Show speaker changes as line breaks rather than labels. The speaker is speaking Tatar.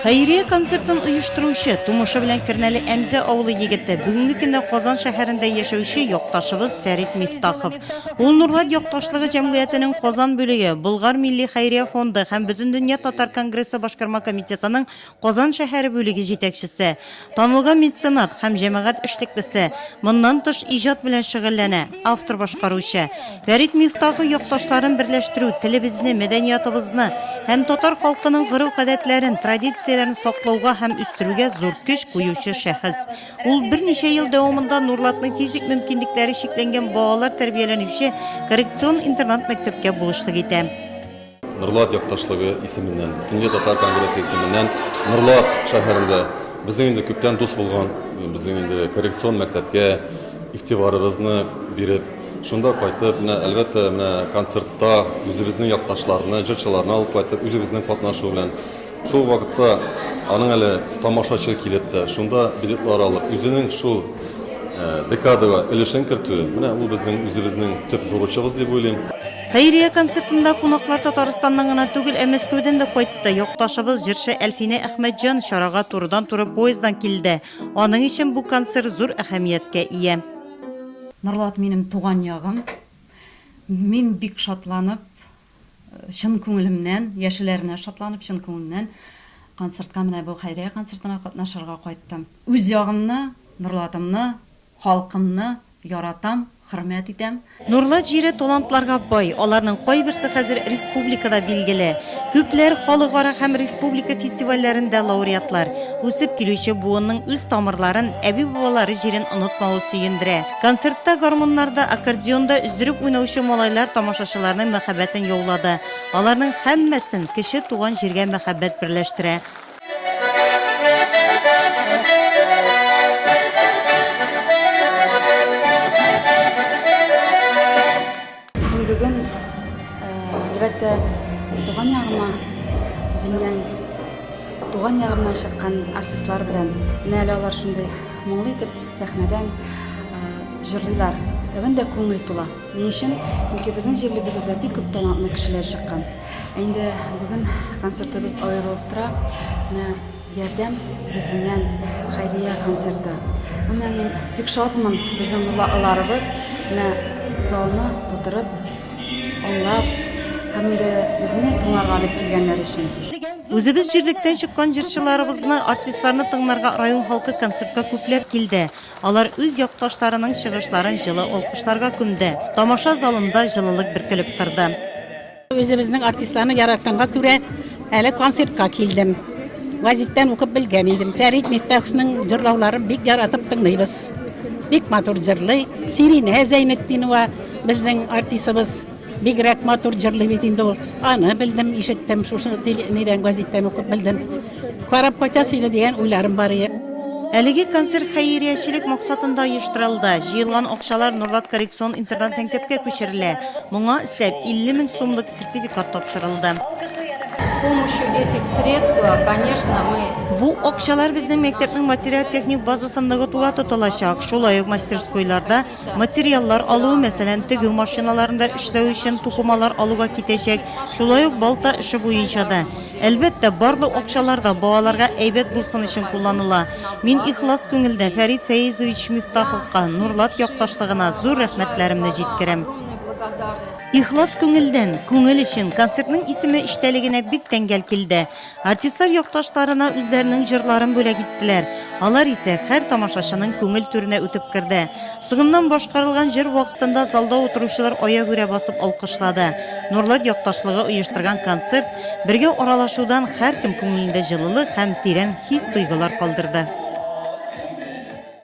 Хәйрия концертын оештыручы, тумышы белән Кернәле Әмзә авылы егете, бүгенге көндә Казан шәһәрендә яшәүче якташыбыз Фәрит Мифтахов. Ул Нурлат якташлыгы җәмгыятенең Казан бүлеге, Болгар милли хәйрия фонды һәм Бөтендөнья татар конгрессы башкарма комитетының Казан шәһәре бүлеге җитәкчесе, танылган меценат һәм җәмәгать эшлеклесе, моннан тыш иҗат белән шөгыльләнә, автор-башкаручы. Фәрит Мифтахов якташларын берләштерү, телебезне, мәдәниятыбызны һәм татар халкының гореф-гадәтләрен, традицияләрен саклауга һәм үстерүгә зур көч куючы шәхес. Ул берничә ел дәвамында Нурлатның физик мөмкинлекләре чикләнгән балалар тәрбияләнүче коррекцион интернат-мәктәпкә булышлык итә. Нурлат
якташлыгы исеменнән, Төньяк татар конгрессы исеменнән Нурлат шәһәрендә безнең инде күптән дус булган, безнең инде коррекцион мәктәпкә игътибарыбызны биреп, шунда кайтып, менә әлбәттә, менә концертта үзебезнең якташларны, җырчыларны алып кайтып, үзебезнең катнашу белән шул вакытта аның әле тамашачы килеп тә, шунда билетлар алып, үзенең шул декадага өлешен кертүе, менә ул безнең үзебезнең төп бурычыбыз дип уйлыйм. Хәйрия
концертында кунаклар Татарстаннан гына түгел, ә Мәскәүдән дә кайтты. Якташыбыз, җырчы Әлфинә Әхмәтҗан чарага турыдан-туры поезддан килде. Аның өчен бу концерт зур әһәмияткә ия. Норлат
минем туган ягым. Мин бик шатланып, чын күңелемнән, яшеләренә шатланып, чын күңелемнән концертка, менә бу Хәйрия концертына катнашырга кайттым. Үз ягымны, Норлатымны Халкымны яратам, хөрмәт итәм. Нурлат җире
талантларга бай, аларның кайберсе хәзер республикада билгеле. Күпләр халыкара һәм республика фестивальләрендә лауреатлар. Үсеп килүче буынның үз тамырларын, әби-бабалары җирен онытмавы сөендерә. Концертта гармуннарда, аккордеонда өздереп уйнаучы малайлар тамашачыларның мәхәббәтен яулады. Аларның һәммәсен кече туган җиргә мәхәббәт берләштерә.
Бүген, әлбәттә, туган ягыма, үземнең туган ягымнан чыккан артистлар белән, менә әле алар шундый моңлы итеп сәхнәдән җырлыйлар. Тәбән дә күңел тула. Ни өчен? Чөнки безнең җирлегебездә бик күп талантлы кешеләр чыккан. Ә инде бүген концертыбыз аерылып тора. Менә Ярдәм йөзеннән хәйрия концерты. Гомумән, мин бик шатмын, безнең нурлыларыбыз менә залны тутырып, аңлап һәм инде безне тыңларга дип килгәннәр өчен. Үзебез
җирлектән чыккан җырчыларыбызны, артистларны тыңларга район халкы концертка күпләп килде. Алар үз якташларының чыгышларын җылы алкышларга күмде. Тамаша залында җылылык бөркелеп торды. Үзебезнең
артистларны яратканга күрә, әле концертка килдем. Гәзиттән укып белгән идем. Фәрит Мифтаховның җырлауларын бик яратып тыңлыйбыз. Бик матур җырлый. Сиринә Зәйнетдинова, безнең артисыбыз. Бигрәк матур җырлый бит инде ул. Аны белдем, ишеттем, шушы нидән газеттән укып белдем. Карап кайтасы иде дигән уйларым бар иде. Әлеге концерт
хәйриячелек максатында оештырылды. Җыелган акчалар Норлат коррекцион интернат-мәктәпкә күчерелә. Моңа өстәп, 50 мең сумлык сертификат тапшырылды. С
помощью этих средств, конечно, мы Бу акчалар безнең
мәктәпнең материаль-техник базасын ныгытуга тотылачак, шулай ук мастерскойларда Материаллар алу, мәсәлән, тегү машиналарында эшләү өчен тукымалар алуга китәчәк, шулай ук балта эше буенча да. Әлбәттә, барлык акчалар да балаларга әйбәт булсын өчен кулланыла. Мин ихлас күңелдән Фәрит Фәизович Мифтаховка, Нурлат якташлыгына зур рәхмәтләремне җиткерәм. Ихлас күңелдән, күңел өчен, концертның исеме эчтәлегенә бик тәңгәл килде. Артистлар якташларына үзләренең җырларын бүләк иттеләр. Алар исә һәр тамашачының күңел түренә үтеп керде. Соңыннан башкарылган җыр вакытында залда утыручылар аягүрә басып алкышлады. Нурлат якташлыгы оештырган концерт, бергә аралашудан һәркем күңелендә җылылык һәм тирән хис-тойгылар калдырды.